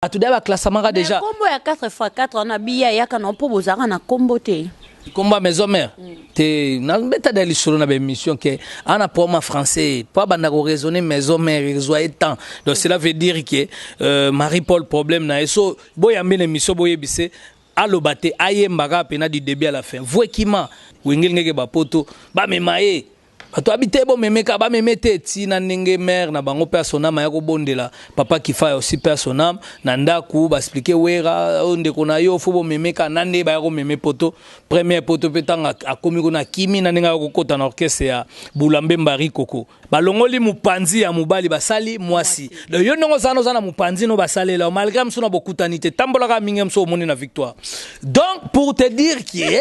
bato deya baklasamaka deja nkombo ya 4 x 4 wana biya eyaka na mpo bozalaka na nkombo te nkombo ya maison mère mm. te nabeta da lisolo na baémission ke ana poama français mpo abanda koraisonne maison mère ezwa ye temps donc cela veut dire ke euh, marie paul problème na ye so boyambi na émission boyebise aloba te ayembaka mpena du début à la fin vuekima wengelingeke bapoto bamema ye Bato ya biteye bomemeka bameme te tii na ndenge mère na bango père son âme aya kobondela papa kifaya aussi père son âme na ndaku ba explique werra oyo ndeko na yo faut bomemeka na ndenge baya komeme poto première poto pe tango akomi kuna akimi na ndenge aya kokota na orchestre ya bula mbemba rikoko balongoli mopanzi ya mobali basali mwasi donc yo ndenge ozana oza na mopanzi no basalela yo malgré mosu na bokutani te tambolaka mingi mosu omoni na victoire donc pour te dire que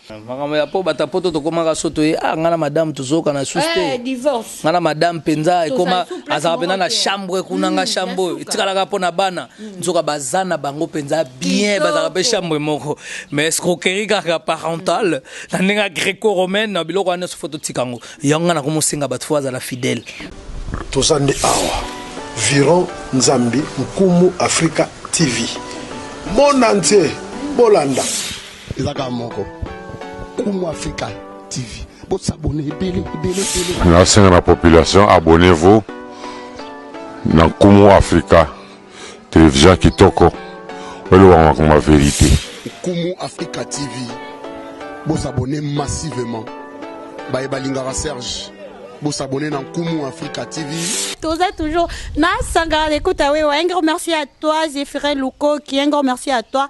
Makambo ya po bata poto tokomaka so toye ah nga na madame tozoyokana susu te Eh, divorce. nga na madame mpenza Tozali ekoma sous place azalaka mpenza moko na te. chambre kuna nga Mm, chambre ya oyo suka. etikalaka mpo na bana nzoka baza na bango mpenza bien Kitoko. bazalaka mpe chambre moko mais escroquerie kaka parentale na ndenge ya greco romaine na biloko wana nyonso fo totika yango yango nga nakomosenga bato fo azala fidèle toza nde awa viron nzambi nkumu afrika tv mona ntie bolanda eza kaka moko kumu africa tv bosabone ebele ebele ebele nasenga na population abonnez vous na nkumu africa television kitoko olobaka makambo ya verite nkumu africa tv bosabone massivement baye balingaka serge bosabone na nkumu africa tv toza toujours na sangara l'écoute awewa un grand merci à toi zéphirin lukoki un grand merci à toi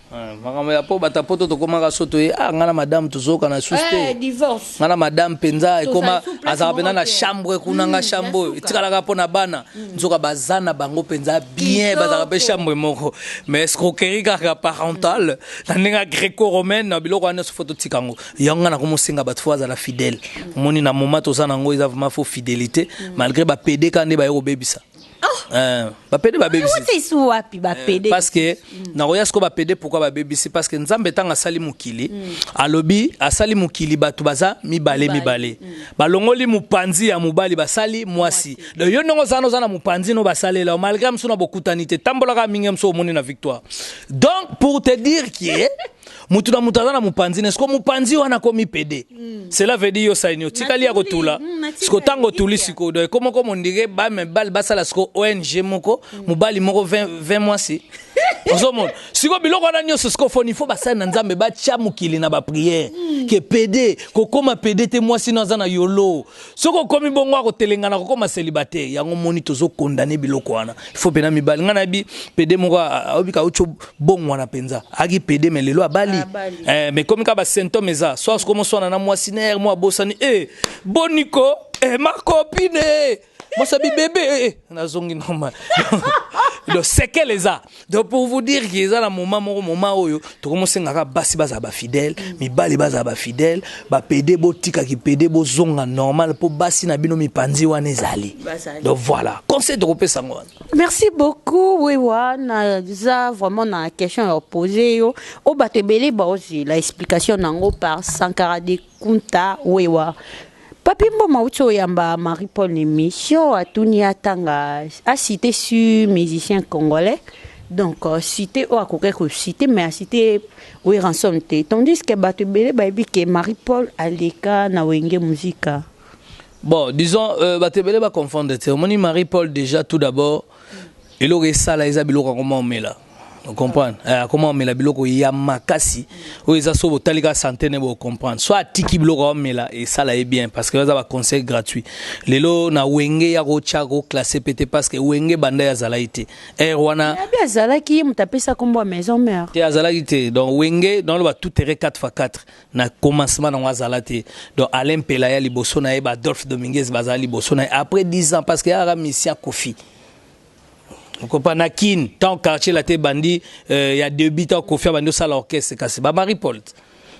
Eh, makambo ya po bata poto tokomaka so toye ah ngai na madame tozokana lisusu te eh, ngai na madame mpenza ekoma azalaka mpenza na chambre kuna nga hmm, chambre oyo etikalaka mpo na bana hmm. nzoka baza na bango mpenza bien bazalaka mpe chambre moko mais escroquerie kaka parentale hmm. na ndenge ya greco romaine biloko wana nyonso fo totika yango yango ngai nakomosenga bato fo azala fidèle omoni na moma toza na yango eza vraiment fo fidélité malgré bapede ka nde baye kobebisa Euh, bapede babebisi wapi bapede euh, parce que mm. nakoya siko bapede pourquoi babebisi parce que nzambe ntango asali mokili mm. alobi asali mokili bato baza mibale mibale mm. balongoli mopanzi ya mobali basali mwasi donc yo ndenge ozana oza na mopanzi no basalela malgré mosu na bokutani te tambolaka mingi mosu omoni na victoire donc pour te dire que mutu na mutu aza na mupanzi ne siko mupanzi wana akomi pede mm. cela veut dire yo saini otikali ya kotula mm, siko ntango otuli siko do ekoma ko mondire bamibali basala siko ong moko mm. mobali moko 20 mwasi ozomona siko biloko wana nyonso siko foni fo basali na nzambe batya mokili na bapriere mm. ke pede kokoma pede te mwasi no aza na yolo soki okomi bongo akotelengana kokoma célibataire yango moni tozo condamne biloko wana ifo mpena mibali ngai nayebi pede moko ayobika auti obongwana mpenza aki pede me lelo abali eh, me komi kaka basymptome eza soas komoswana na mwasi nere mwa abosani e eh, boniko e eh, makopine mwasa bibebe e nazongi normal donc sekele eza donc pour vous dire que eza na moment moko moment oyo tokomi osenga kaka basi bazala bafidèle mibali bazala bafidèle bapede botika kipede bozonga normal mpo basi na bino mipanzi wana ezali Bazali. donc voilà conseil tokopesa yango wana merci beaucoup wewa naza vraiment na question ya opose yo oyo bato ebele baozela explication na yango par sankara de kunta wewa Papy Mboma auti oyamba Marie Paul na emission atuni atanga a cite sur musicien congolais donc euh, cite oyo akokaki kocite mais acite oyo ransom te tandis que bato ebele bayebi ke Marie Paul aleka na wenge musika bon disons euh, bato ebele baconfondre te omoni Marie Paul déjà tout d'abord eloko esala eza biloko yango maomela comprendre eh, akoma omela biloko ya makasi oyo eza so botali kaka sante ne bocomprendre so atiki biloko aomela esala ye bien parce que eza baconseil gratuit lelo na wenge ya kotya koklasse pe te parce que wenge banda ye azalaki te ere wana abi azalaki ye moto apesa nkombo ya maison mare te azalaki te donc wenge donc loba tout ere 4 fois 4 na commencement nango azala te donc alain mpela ya liboso na ye badolphe dominguez bazala liboso na ye après 10 ans parce que yaka misia kofi kopa na kin tant quartier la te bandi euh, ya debut tant kofi abandi osala orchestre kasi ba marie paul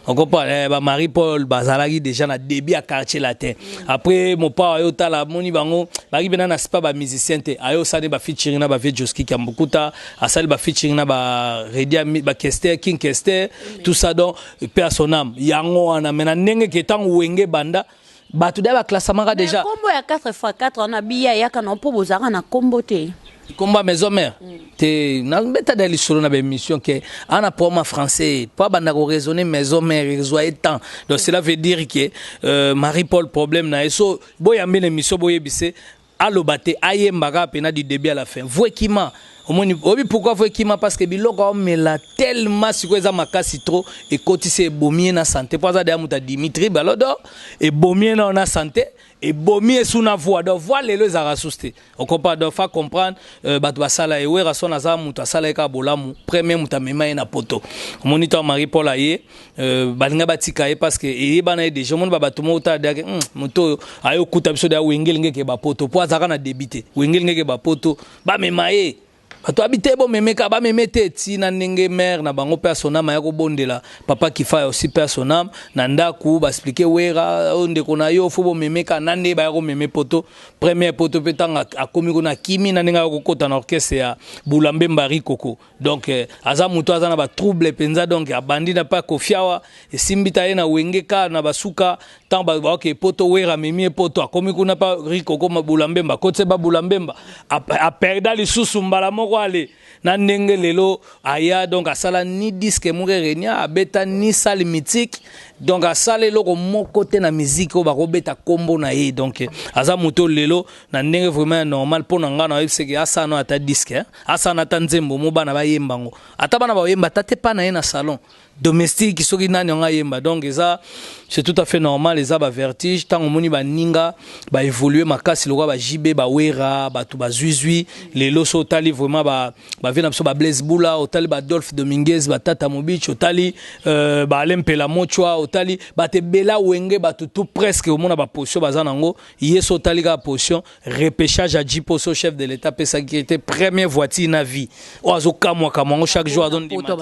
okopa eh, ba marie paul bazalaki déjà na début ya quartier latin après mopao ayo tala amoni bango baki mpena na sipa ba musicien te ayo osali ba featuring na ba vie joskiki ya mbukuta asali ba featuring na ba redia ba kester king kester tout ça donc père son âme yango wana me na ndenge ke ntango wenge banda bato da baklasamaka deja kombo ya 4 fois 4 wana biya eyaka na mpo bozalaka na kombo te kombo ya maison mère mm. te nabeta da lisolo na baémission ke ana poma français mpo abanda koraisonne maison mère ezwa ye temps donc cela veut dire ke euh, marie paul problème na ye so boyambi na émission boyebise Aloba te ayemba kaka pena du debut à la fin voix ekima omoni oyebi pourquoi voix ekima parce que biloko aomela tellement sikoyo eza makasi trop ekotisi ebomi ye na sante mpo aza deya moto ya dimitri balodo ebomi ye nao na sante ebomi ye su na voix donc voix lelo ezalaka susu te okompa donc fa comprendre euh, bato basala ye werason aza moto asala ye kaka bolamu premier moto amema ye na poto omoni to marie paul aye Euh, balinga batika ye parce que eyebana ye déjà omoni babato moko tala deake hmm, moto oyo aye okuta biso deya wengelingeke bapoto mpo azalaka na debi te wengelingeke bapoto bamema ye bato abi te bomemeka bameme te ti na ndenge mare na bango mpe asonama ya kobondela papa kifaya osi mpe asonam na ndako baexplike wera oyo oh, ndeko na yo fo bomemeka na nde baya komeme poto première poto mpe ntango akomi kuna akimi na ndenge ayakokota na orchestre ya bulambemba rikoko donc eh, aza moto aza na ba trouble penza donc abandi na pa kofiawa esimbi ta ye na wenge ka na basuka tant ba ba ke poto wera mimi poto akomi kuna pa riko koma bulambemba kotse ba bulambemba a perda lisusu mbala moko ale na ndenge lelo aya donc asala ni disque moko renia abeta ni salle mythique donc asala eloko moko te na musique oyo bakobeta kombo na ye donc eh, aza moto lelo na ndenge vraiment ya normal mpo na ngai na oyebise ke asala no ata diske eh. asala na ata nzembo mo bana bayemba yango ata bana baoyemba ata te pa na ye na salon domestique soki nani yango ayemba donc eza c'est tout à fait normal eza bavertige ntango omoni baninga baévolue makasi lokola bajb bawera bato bazuizui lelo so otali vraiment bavie na biso bablaise bula otali badolphe dominguez batata mobich otali euh, baale mpela mochwa otali bato ebela wenge bato tout presque omona baposition baza na yango Ye soki otali kaka position repechage ya Djiposo chef de l'etat apesaki ye te premier voiture na vie oyo azokamwakamwa yango chaque jour azondima te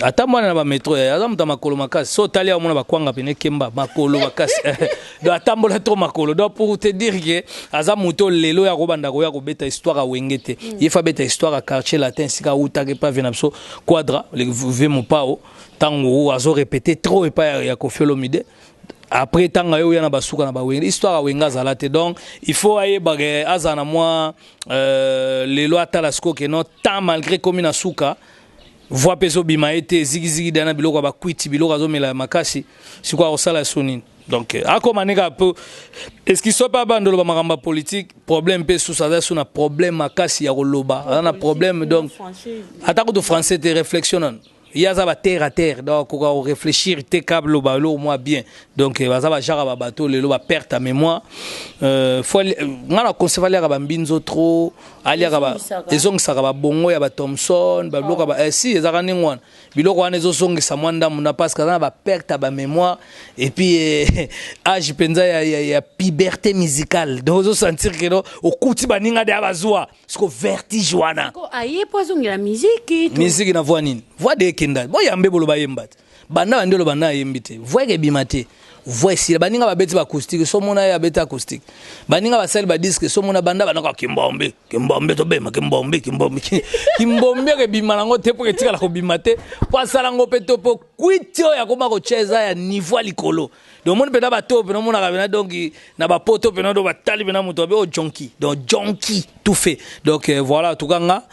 atambwana na bametro ya aza moto ya makolo makasi so otali aomona bakwanga pene ekemba makolo makasi do atambola trop makolo do pour te dire ke aza moto lelo oyo akobanda koya kobeta histoire ya wenge te hmm. ye fa abeta histoire ya quartier latin esika awutaka epa vie na biso quadra ve mopao ntango azorepete trop epai ya kofi olomide après tanga yo ya na basuka na ba wenga histoire wenga zala te donc il faut ayeba que azana moi euh, les lois tala siko que non tant malgré comme na suka voix peso bima été zigi zigi dana biloko ba kwiti biloko azomela makasi siko akosala sonini donc euh, akoma neka peu est-ce qu'il soit pas bandolo ba makamba politique problème pe sous aza sous na problème makasi ya koloba na problème donc atako to français te réflexion ye aza ba terre à terre donc akoka ko réfléchir te ka loba eloko mwa bien donc euh, baza bajaka ba bato lelo ba perte ya mémoire euh, fo euh, ngai na conseil aliaka bambinzo trop aliaka ba ezongisaka babongo ya ba thomson babiloko ba eh, si ezaka ndenge wana biloko wana ezozongisa mwa ndambo na parce que aza na ba perte ya bamémoire et puis eh, age mpenza ya, ya, ya puberté musicale donc ozosentir keno okuti baninga deya bazwa siko vertige wana ko aye po azongela miziki miziki na voix nini voix de ekenda boyambe boloba yemba te banda bande oloba na ayembi te voix ekebima te voix esila baninga babeti ba acoustique so mona ye abeti acoustique baninga basali ba disque so mona banda banaka kimbombe kimbombe tobema kimbombe kimbombe kimbombe ekebima nango te mpo etikala kobima te mpo asala yango mpe to mpo kwiti oyo akoma kocheza ya niveau ya likolo Donc moni pena ba to pena mona kabena donc na ba poto pena do batali pena moto abe o oh, jonki donc jonki tout fait donc euh, voilà tout cas nga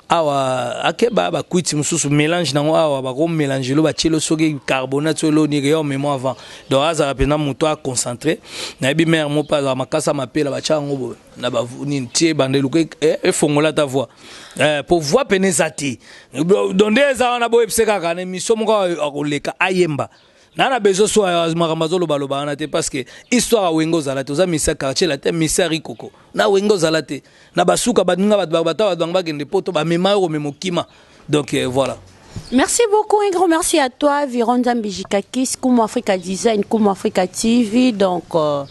awa akeba ba kuiti mususu mélange nango awa ba ko mélange lo ba tielo soki carbonate so lo ni yo memo avant donc azala pena moto a concentré na yebi mère mo pa za makasa mapela ba tia ngo bo na ba ni tie bande luka e eh, fongola ta voix eh pour voix pena ezati donc nde eza wana bo epse kaka ne miso moko akoleka ayemba na na besoin so makambo azoloba loba wana te parce que histoire ya wenge ozala te oza misa quartier latin misa rikoko na wenge ozala te na basuka baninga bato bango bato bango bakende poto bamema yo komema okima donc euh, voilà Merci beaucoup, un grand merci à toi, Viron Zambijikakis, Kumu Africa Design, Kumu Africa TV. Donc, euh,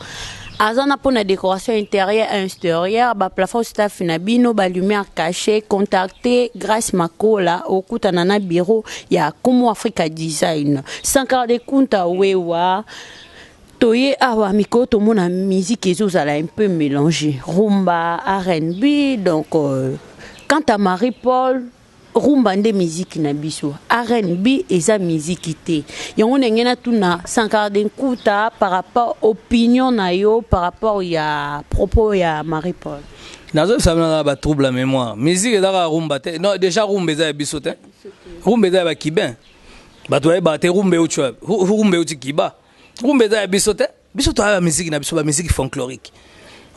aza na pona decoration intérieure et extérieure ba plafond staff na bino ba lumière cachée contacter Grace Makola okutana na bureau ya Como Africa Design Sankara de Kunta wewa toye awa mikolo tomona musique ezozala un peu mélange rumba rnb donc euh, quant à marie paul Rumba nde miziki na biso. RNB eza miziki te. Yango ndenge na tuna Sankara de Nkuta par rapport opinion na yo par rapport ya propos ya Marie Paul. Nazo sabana na ba trouble la mémoire. Musique eza ka rumba te. Non, déjà rumba eza ya biso te. Rumba eza ya ba Cubain. Bato ba ba te rumba euti rumba euti Cuba. Rumba eza ya biso te. biso toya ba musique na biso ba musique folklorique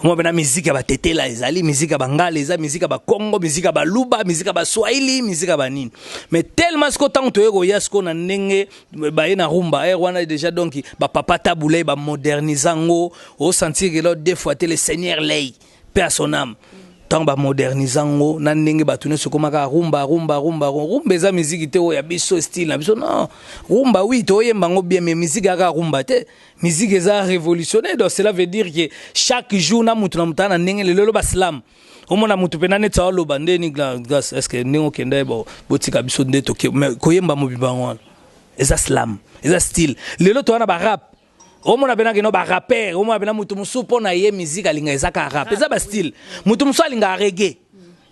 omwa bena musique ya batetela ezali musique ya bangala eza musique ya bakongo musique ya baluba musique ya baswahili musique ya banini mais tellement siko ntango toye koya siko na ndenge baye na rumba aire wana déjà donc bapapa tabulei bamodernize yango osentir kelo deux fois te le seigneur lei pe à son âme ntango bamodernise yango na ndenge bato nyonso ekomaka rumba rumba rumba rumba eza miziki te oyo ya biso style na biso non rumba wi toyemba yango bien mais miziki yaka rumba te miziki eza révolutionnaire donc cela veut dire que chaque jour na moto na moto aa na ndenge lelo baslam omona moto mpena neti aoloba nde ni glas est ce que ndenge okenda ye botika biso nde toke mais koyemba mobimba yango wana eza slam eza style lelo towana barap omona pena kino ba rapper omona pena mutu mosusu mpo na ye musique alinga eza ka rap eza ba style mutu mosusu alinga reggae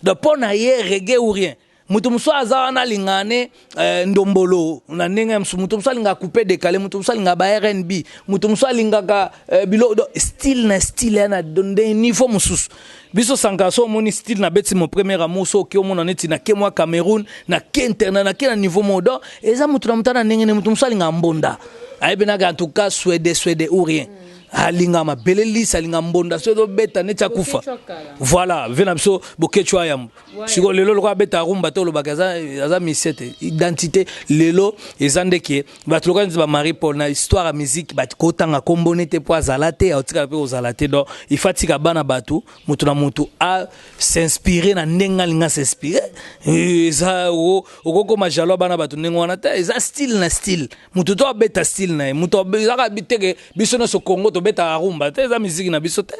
donc mpo na ye reggae ou rien mutu mosusu aza wana alinga ne euh, ndombolo na ndenge ya mosusu mutu mosusu alinga coupe décalé mutu mosusu alinga ba rnb mutu mosusu alingaka euh, bilo style na style ya na niveau mosusu Biso sankara so omoni style na beti mon premier amour so oki omona neti na ke mwa Cameroun na ke internet na ke na niveau moko donc eza mutu na mutana ndenge ne mutu mosusu alinga mbonda ayebi naka en tout cas swede swede ou rien alinga mabele lisa alinga mbonda so ezobeta neti akufa voilà ve na biso bokechwa yambo siko lelo lokola abeta rumba to olobaka aza, aza misie te identité lelo eza nde ke bato lokola neti bamarie paul na histoire ya miziki bato kotanga nkombo ne te mpo azala te aotikala mpe kozala te donc ifa tika bana bato moto na moto a s'inspire na ndenge alingi asinspire eh, eza okokoma jalo ya bana bato ndenge wana te eza style na style moto to abeta style na ye moto ezaka teke biso nyonso congo tobetaka rumba te eza miziki na biso te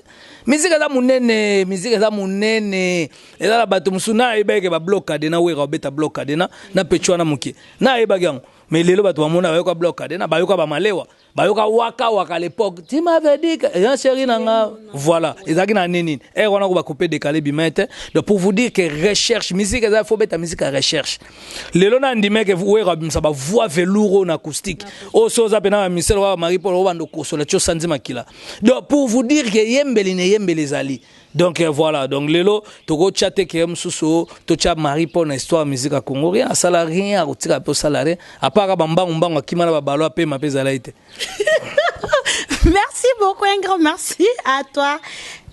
miziki eza monene miziki eza monene eza na bato mosusu nayebaki ke bablokade na wera obeta blokade na na pecho wana moke nayebaki yango Mais lelo bato bamona bayoka bloc de na bayoka ba malewa bayoka waka waka à l'époque tu m'avais dit que ya chéri na nga voilà ezalaki na nini eh wana ko ba couper décaler bimete donc pour vous dire que recherche musique eza faut beta musique à recherche lelo na ndime que vous wera bimsa ba voix velours na acoustique o oh, so za pena misel wa Marie Paul obando kosola cho sanzi makila donc pour vous dire que yembeli ne yembeli zali donc euh, voilà donc lelo tokotya te keye mosusu totya marie mpo na histoire musique ya congo rien asala rien akotika mpe osala rien apaka bambangumbangu akima na babalo apema mpe ezalaki te merci beaucoup un grand merci à toi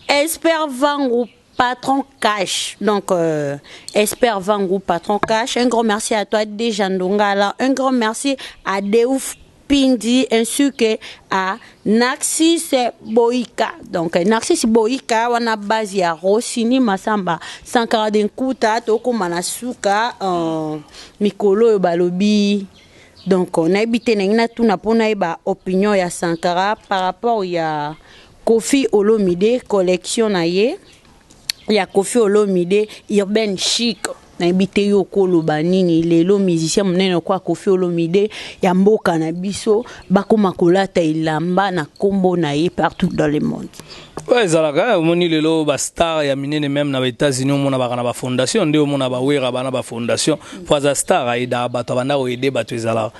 espère vangu patron cash donc euh, espère vangu patron cash un grand merci à toi déjà ndongala un grand merci à deuf Pindi ensuke a Narcisse Boyka. Donc Narcisse Boyka wana base ya Rossini Masamba Sankara de Nkuta tokoma na suka uh, mikolo oyo balobi donc nayebi te nangi natuna mpo nayeba opinion ya Sankara par rapport ya Kofi Olomide collection na ye ya Koffi Olomide urbain chic nayebi te yo okoloba nini lelo musicien monene lokola kofi olomide ya mboka na biso bakoma kolata elamba na nkombo na ye partout dans le monde oyo ezalaka eh, omoni lelo bastar ya minene meme na baétats-unis omona baka na bafondation nde omona bawera bana bafondation mpo aza star ayedaka bato abanda koyede bato ezalaka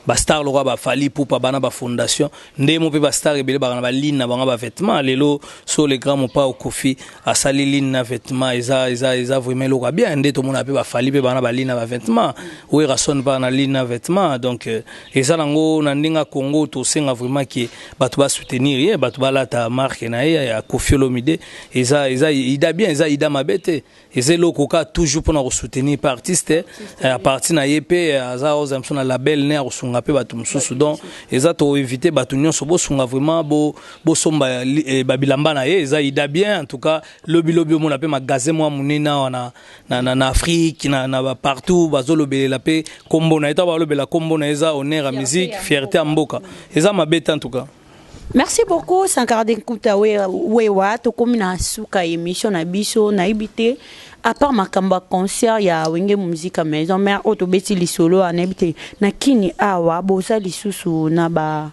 bastar lokola bafali pupa bana bafondation Ndemo pe ba star ebele baka na ba ligne na bango ba vêtements lelo so le grand mopao Koffi asali ligne na vêtements eza eza eza vraiment eloko ya bien nde tomona pe ba Fally pe baka na ba ligne na ba vêtements Werrason baka na ligne na vêtements donc euh, eza nango na ndenge ya Congo tosenga vraiment ke bato ba soutenir ye bato balata marque na ye ya Koffi Olomide eza eza ida bien eza ida mabe te eza eloko ka toujours mpona kosoutenir pe artiste eh, ya parti na ye mpe eh, aza oza mosusu na label ne ya kosunga mpe bato mosusu donc eza toinvite bato nyonso bosunga vraiment bosomba bo eh, babilamba na ye eza ida bien en tout cas lobilobi omona mpe magasin mwa monene awa na, na, na, na afrique na, na partout bazolobelela mpe nkombo na ye ntango balobela nkombo na ye eza honneur ya musique fierté ya mboka eza mabe te en tout cas Merci beaucoup Sankara de Nkuta Wewa tokomi na suka émission na biso nayebi te à part makambo ya concert ya Wenge Musica Maison Mère oyo tobeti lisolo nayebi te na kini awa boza lisusu na ba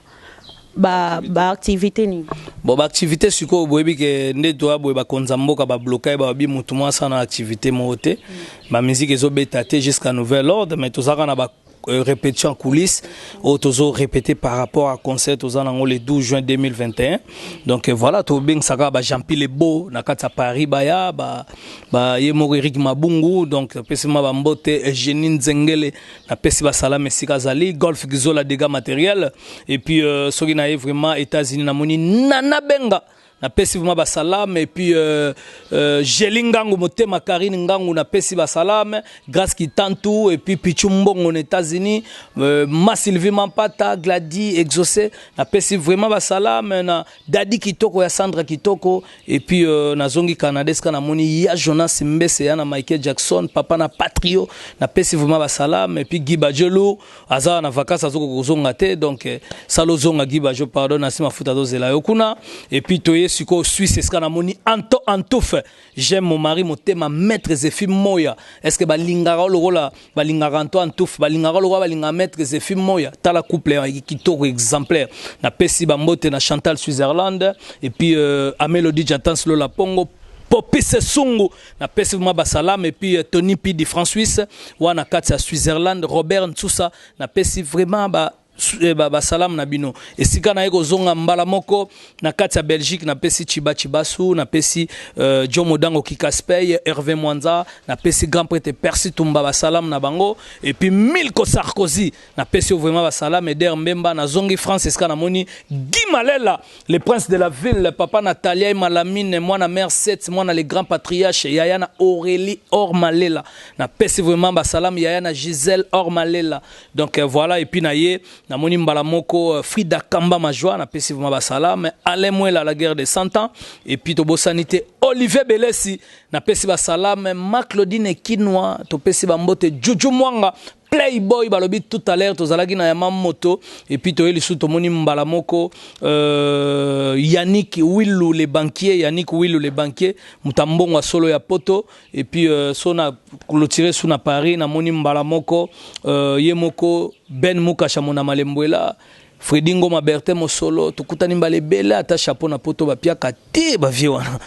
ba ba activité nini bon ba activité sikoyo boyebi ke nde toya boye bakonza mboka babloka ye babi motu mwasi ana activité moko te mm. bamiziki ezobeta te jusqu'à nouvel ordre mais tozalaka na ba Euh, répétition en coulisses oyo tozo répété par rapport à concert toza nango le 12 juin 2021 donc euh, voilà tobengisaka ba jean pile beau na kati ya paris baya ba, ba ye moko eric mabungu donc apesi ma bambote eugénie euh, nzengele napesi basalama esika azali golf gizola dégâts matériel et puis euh, soki na ye vraiment états-unis namoni nana benga na pesi vraiment ba salame et puis euh, euh, Jeli Ngangu motema Karine Ngangu na pesi ba salame Grace Kitantu et puis Pichu Mbongo aux États-Unis euh, Ma Sylvie Mampata Glady Exaucé na pesi vraiment ba salame na Daddy Kitoko ya Sandra Kitoko et puis euh, na zongi Canada ska na moni ya Jonas Mbese ya na Michael Jackson papa na Patrio na pesi vraiment ba salame et puis Guy Badjelo aza na vacances azokoka kozonga te donc eh, sala ozonga Guy Bajo pardon na nsima futa azozela yo kuna et puis toye sikoyo Suisse esika namoni anto antouffe j'aime mon mari motema maître Zephi Moya est ce que balingaka yo lokola balingaka anto antouffe balingaka lokola balingaka maître Zephi Moya tala couple ya kitoko exemplaire napesi bambote na Chantal Switzerland et puis euh, Amelodie Jatans Lola Pongo Popise Sungu Na pesi vraiment ba salam et puis euh, Tony Pidi François wana kati ya Switzerland Robert Nsusa na pesi vraiment ba eh, ba, ba salam na bino esika na ye kozonga mbala moko na kati ya Belgique na pesi Chiba Chibasu na pesi euh, John Modango Kikaspey Hervé Mwanza na pesi grand prêtre Percy Tumba ba salam na bango et puis Milko Sarkozy na pesi yo vraiment ba salam Eder Mbemba na zongi France esika na moni Guy Malela Le prince de la ville, papa Natalia et Malamine, moi na mère 7, moi na le grand patriarche, yaya na Aurélie Ormalela. Na pesi vraiment ba salam yaya na Gisèle Ormalela. Donc euh, voilà et puis na ye na moni mbala moko euh, Frida Kamba Majwa na pesi vraiment ba salam, Alain Mwela la guerre des 100 ans et puis to bosanité Olivier Belesi na pesi ba salam, ma Claudine Kinwa, to pesi ba mbote Juju Mwanga Play boy balobi tout à l'heure tozalaki na yama moto et puis toye lisusu tomoni mbala moko euh, Yannick Willu le banquier Yannick Willu le banquier mutambongo solo ya poto et puis euh, sona clôturé sous na Paris na moni mbala moko euh, ye moko Ben Mukasha mona malembuela Freddy Ngoma Bertin Mosolo tokutani mbala ebele ata chapeau na poto bapiaka te ba vieux wana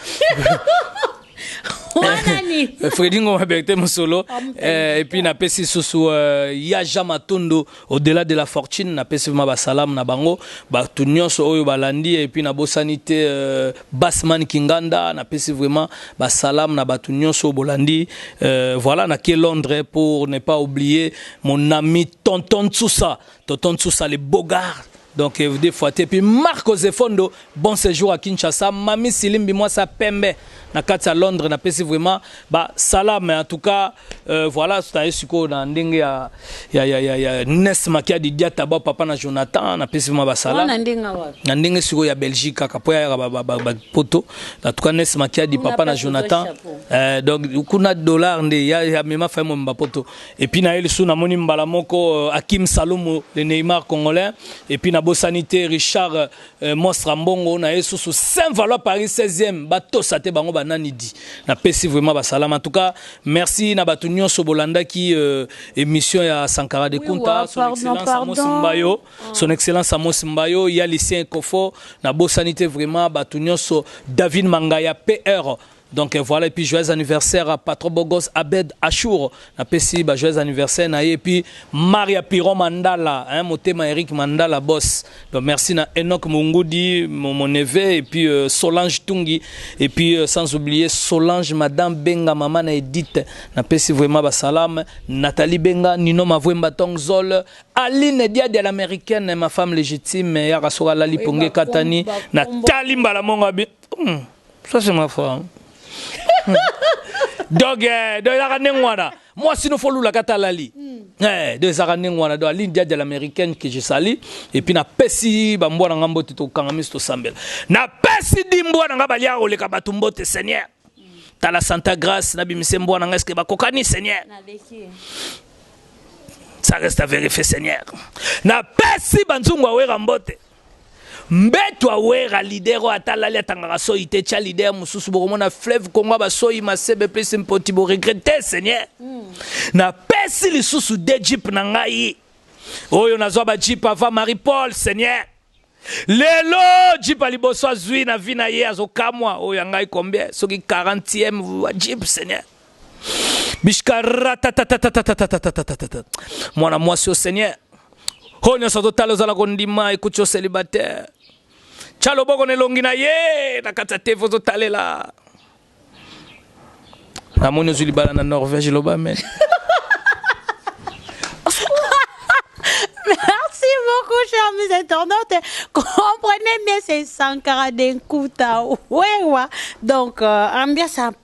Eh, Freddy Ngoma Bertin Mosolo ah, eh, et puis na pesi susu euh, ya Jean Matondo au-delà de la fortune na pesi ma ba salam na bango ba tout nyonso oyo balandi et puis na bosani te euh, Bassman Kinganda na pesi vraiment ba salam na ba tout nyonso bolandi euh, voilà na ke Londres pour ne pas oublier mon ami Tonton Sousa Tonton Sousa le beau gars. Donc euh, des fois et puis Marco Zefondo bon séjour à Kinshasa Mami Silimbi moi ça pembe na kati à Londres na pesi vraiment ba salam mais en tout cas euh, voilà tout à siko na ndenge ya ya ya ya, ya Nes Makia di Diata ba papa na Jonathan na pesi vraiment ba salam na ndenge wapi na ndenge siko ya Belgique kaka po ya ba, ba, ba, ba poto en tout cas Nes Makia di papa na Jonathan euh, donc kuna dollar nde ya, ya mema fa mo mba poto Et puis na Elsu na moni mbala moko euh, Akim Salomo le Neymar congolais et puis na bosanité Richard euh, Monstre Mbongo na Elsu sous Saint Valois Paris 16e ba tosa te bango banani di na pesi vraiment ba salama en tout cas merci na batu nyoso bolanda ki euh, émission ya Sankara de Kunta son excellence Amos Mbayo ah. son excellence Amos Mbayo ya lycée Kofo na bosanité vraiment batu nyoso David Mangaya PR Donc voilà et puis joyeux anniversaire à Patro Bogos Abed Achour na pesi ba joyeux anniversaire na ye et puis Maria Piron Mandala hein motema Eric Mandala boss donc merci na Enoch Mungudi mon, mon neveu et puis euh, Solange Tungi et puis euh, sans oublier Solange madame Benga maman na Edith na pesi vraiment ba salam Nathalie Benga Nino Mavwemba Tongzol Aline Diadi à l'américaine ma femme légitime ya kasoka lali ponge katani na tali mbala monga bi hmm. Ça c'est ma femme. donc eh, donc ezalaka ndenge wana mwasi no fo olulaka ata alali hmm. eh, donc ezalaka ndenge wana donc aline diadi l'américaine que je sali epuis napesi bambwa na ngai mbote tokanga miso tosambela napesi di mbwa na ngai balia koleka bato mbote seigneur hmm. tala santa grace nabimise mbwa na ngai eske bakokani seigneur ça reste à vérifier seigneur napesi banzungu awera mbote Mbetu a werra leader oyo ata alali atangaka soyi te tia leader mususu bokomona fleuve congo ya ba soyi masebe plus mpoti bo regretter seigneur na pesi lisusu deux jeep na ngai oyo nazwa ba jeep avant marie paul seigneur lelo jeep ya liboso azwi na vie na ye azokamwa oyo ya ngai combien soki 40 ème jeep seigneur bishka ratatatatatatatatata mwana mwasi o seigneur oyo nyonso azotala ozala kondima ekuti o célibataire tya loboko na elongi na ye na kati ya teve ozotalela namoni ozwi libala na norvège loba amen Merci beaucoup, chers mes internautes. Comprenez bien, c'est Sankara Denkuta. Wewa. Donc, euh, ambiance un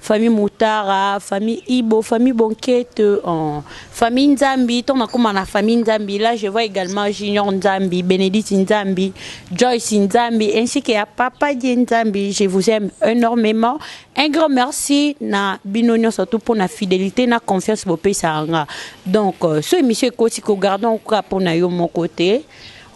Famille Mutara, famille Ibo, famille Bonkete, oh, famille Nzambi, tant nakoma na famille Nzambi, là je vois également Junior Nzambi, Benedict Nzambi, Joyce Nzambi, ainsi que à Papa Dieu Nzambi, je vous aime énormément. Un grand merci na bino nionso surtout pour na fidélité na confiance bopesa nga. Donc, euh, ce monsieur ekoti ko gardons quoi pour na yo mon côté.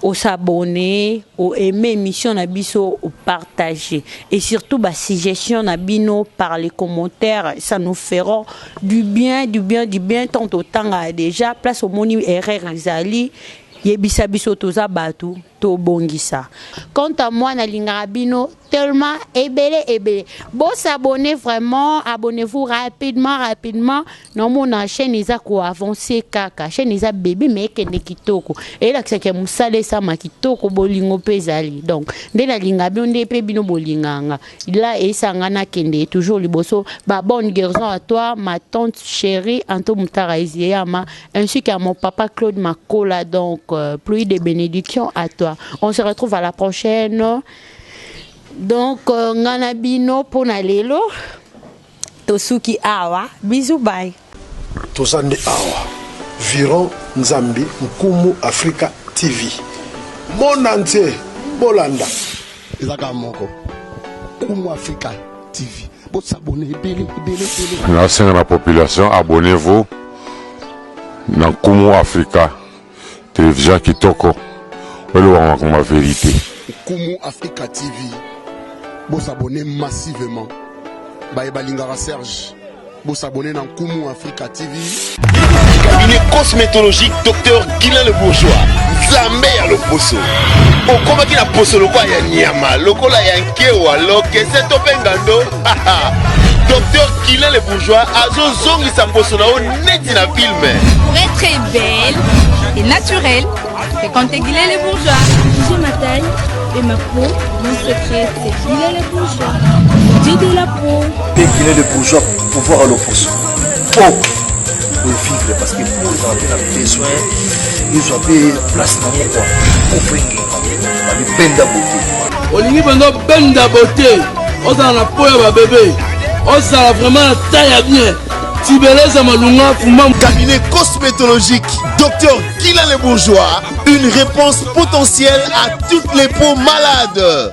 o s'abonner, o aimer emission na biso, o partager et surtout ba suggestions na bino par les commentaires, ça nous feront du bien, du bien, du bien tant totanga déjà place omoni erreur ezali yebisa biso toza batu tobongisa. Quant à moi nalingaka bino tellement ebele ebele bo s'abonner vraiment abonnez-vous rapidement rapidement naomona chaîne eza ko avancer kaka chaîne eza bebe mais ekende kitoko elakisa ke musala esama kitoko bolingo mpe ezali donc nde nalinga bino nde mpe bino bolinganga la esanga nakende toujours liboso ba bonne guérison à toi ma tante chérie Anto Mutara Ezeyama ainsi qu'à mon papa Claude Makola donc euh, pluie de bénédiction à toi on se retrouve à la prochaine donc euh, nga na bino mpo na lelo tosuki awa bizu bai toza nde awa viron nzambi nkumu afrika tv mona ntie bolanda ezaka moko nkumu afrika tv bosabone ebele ebele ebele nasenga na population abonnez-vous na nkumu afrika Television kitoko. Oloba makambo ya verite. Nkumu Africa TV bo s'abonner massivement baye balingaka Serge bo s'abonner na Nkumu Africa TV. Cabinet cosmétologique docteur Guilain le bourgeois Nzambe ya loposo okomaki na poso lokola ya nyama lokola ya nkewa lokese to mpe ngando Docteur Kila le bourgeois azozongisa mposo na yo neti na filme. Pour être très belle et naturelle, c'est quand t'es Gila le bourgeois. J'ai ma taille et ma peau, mon secret c'est Gila le bourgeois. J'ai de la peau. Et Gila le bourgeois, pouvoir à l'oposo. Oh vivre parce que pour ozala mpe na besoin ezwa mpe place na moko ofenge babi benda bote olingi benda benda bote ozala na po ya babebe ozala vraiment na ta ya bien tibeleza malunga fuma cabinet cosmétologique docteur kila le bourgeois une réponse potentielle à toutes les peaux malades